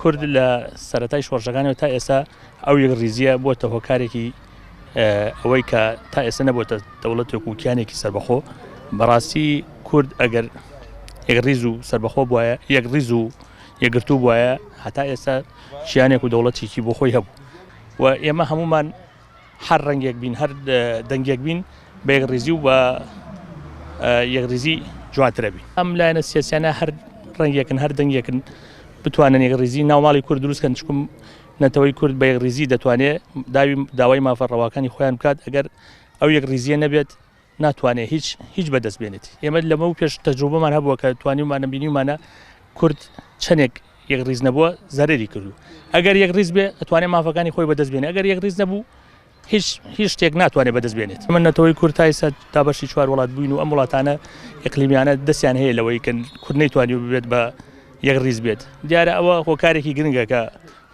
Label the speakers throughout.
Speaker 1: کورد لە سەرەتای شۆڕشەکانەوە تا ئێستا ئەو یەکڕیزیە بۆتە هۆکارێکی ئەوەی کە تا ئێستا نەبووتە دەوڵەتێک و کیانێکی سربەخۆ بەڕاستی کورد ئەگەر یەکڕیز و سربەخۆ بواە یەکڕیز و یەگرتو بواە هەتا ئێستا شیانێک و دەوڵەتێکی بۆ خۆی هەبوو و ئێمە هەمومان هەر ڕەنگێک بین هەر دەنگێک بین بە یەکڕیزی و بە یەکڕیزی جوانترە بین ئەم لایەنە سیاسیانە هەر ڕەنگێکن هەر دەنگێکن بتوانن یەکڕیزی ناوماڵی کورد دروستکەن چکم نەتەوەی کورد بە یەکڕیزی دەتوانێت داوی داوای مافە ڕەواکانی خۆیان بکات ئەگەر ئەو یەکڕیزیە نەبێت ناتوانێت هیچ هیچ بەدەست بێنێت ئێمە لەمە و پێش تەجروبەمان هەبووە کە توانیمانە بینیمانە کورد چەندێک یەک ریز نەبووە زەرری کردو ئەگەر یەک ریز بێ ئەتوانێت مافەکانی خۆی بەدەست بێنێ ئەگەر یەک ریز نەبوو هیچ هیچ شتێک ناتوانێت بەدەست بێنێت من نەتەوەی کورتای سە تا بەشی چوار وڵات بووین و ئەم وڵاتانە ئەقلیمیانە دەستیان هەیە لەوەی کە کورد نەیتوانی ببێت بە یەک ریز بێت دیارە ئەوە هۆکارێکی گرنگەکە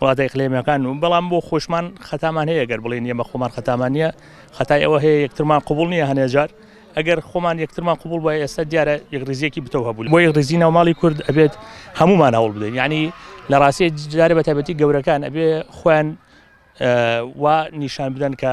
Speaker 1: وڵاتە ئیقلیمیەکان و بەڵام بۆ خۆشمان خەتامان هەیە گەر بڵێن یەمە خۆمان خەتامان نیە خەتای ئەوە هەیە یەکترمان قوبول نیە هەنێجار ئەگەر خۆمان یەکترمان قوبول بە ئێستا دیارە یەکڕزیەکی بتەو هەبوو بۆ یەکڕزی ناوماڵی کورد ئەبێت هەمومان هەوڵ بدەین ینی لە ڕاستی جارە بە تایبەتی گەورەکان ئەبێ خۆیان وا نیشان بدەن کە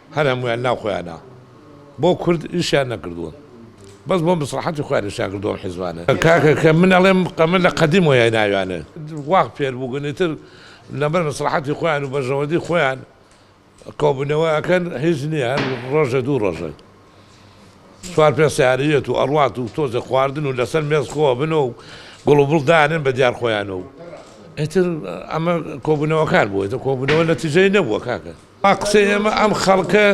Speaker 2: هەر هەموویان ناو خۆیانا بۆ کورد ئیشیان نەکردوون بەس بۆ مسڵەحەتی خۆیان ئیشیان کردووە ئەم حیزبانە. کاکە کە من ئەڵێم ئەمە لە قەدیم وەیای ناویانە وا فێر بووگن ئیتر لەبەر مسڵەحەتی خۆیان و بەرژەوەندی خۆیان کۆبوونەوە ئەکەن هیچ نییە هەر ڕۆژێ دوو ڕۆژە چوار پێ سەیارە یێت و ئەڕوات و تۆزێ خواردن و لەسەر مێز خۆ ئەبن و گوڵ و بڵ دانێن بە دیار خۆیانە و ئیتر ئەمە کۆبوونەوەکان بووە ئیتر کۆبوونەوە نەتیجەی نەبووە کاکە. ئا قسەی ئێمە ئەم خەڵکە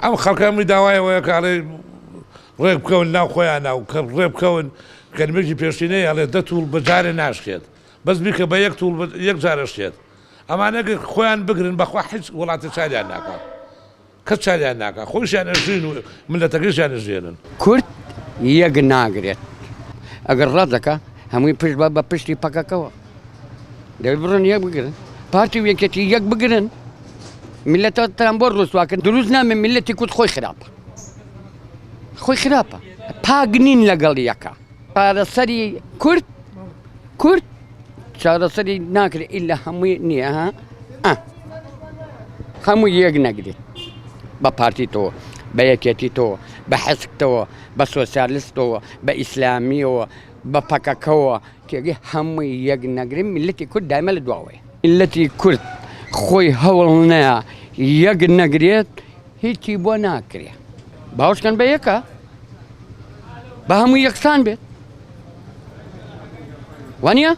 Speaker 2: ئەم خەڵکە ئەمەی داوای ئەوەیە کە ئەڵێ ڕێک بکەون ناو خۆیانە و کە ڕێ بکەون کەلمێکی پێشینەی ئەڵێ دە تووڵ بە جارێ ناشکێت بەس بیکە بە یەک تووڵ یەک جارە شکێت ئەمانە گەر خۆیان بگرن بەخوا هیچ وڵاتێ چاریان ناکا کەس چاریان ناکا خۆیشیان ئەژین و ملەتەکەشیان ئەژێنن کورد
Speaker 3: یەک ناگرێت ئەگەر ڕەت دەکا هەمووی پشت بە بە پشتی پەکەکەوە. دەبێت بڕۆن یەک بگرن پارتی و یەکێتی یەک بگرن میلەتتان بۆ ڕوسواکرد دروست نامێ میلەتی کورد خۆی خراپە خۆی خراپە پاگ نین لەگەڵ یەکە پارەسەری کورد کورد چارەسەری ناکرێت ئیلا هەمووی نییە ها هەموو یەک نەگرێت بە پارتی تۆ بە یەکێتی تۆ بە حەسکتەوە بە سۆسیالستەوە بە ئیسلامیەوە بە پەکەکەەوە تێگەی هەمووی یەک نەگرن میللەتی کورد دایمە لە دواوەیە. میللەتی کورد خۆی هەوڵ نەیا یەک نەگرێت هیچی بۆ ناکرێت. باوەش کەن بە یەکە با هەمووی یەکسان بێت. وانە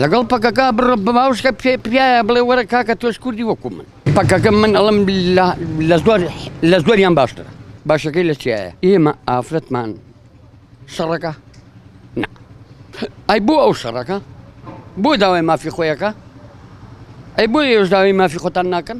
Speaker 3: لەگەڵ پەکەکە بڕ بەماوشکە پێ پیاە بڵێ وەرە کاکە تۆش کوردی وەکو من پەکەکە من ئەڵم لە زۆر لە زۆریان باشترە باشەکەی لە چیایە ئێمە ئافرەتمان شەڕەکە ئەی بۆ ئەو شەڕەکە بۆ داوای مافی خۆیەکە ئەی بۆ ئێوش داوای مافی خۆتان ناکەن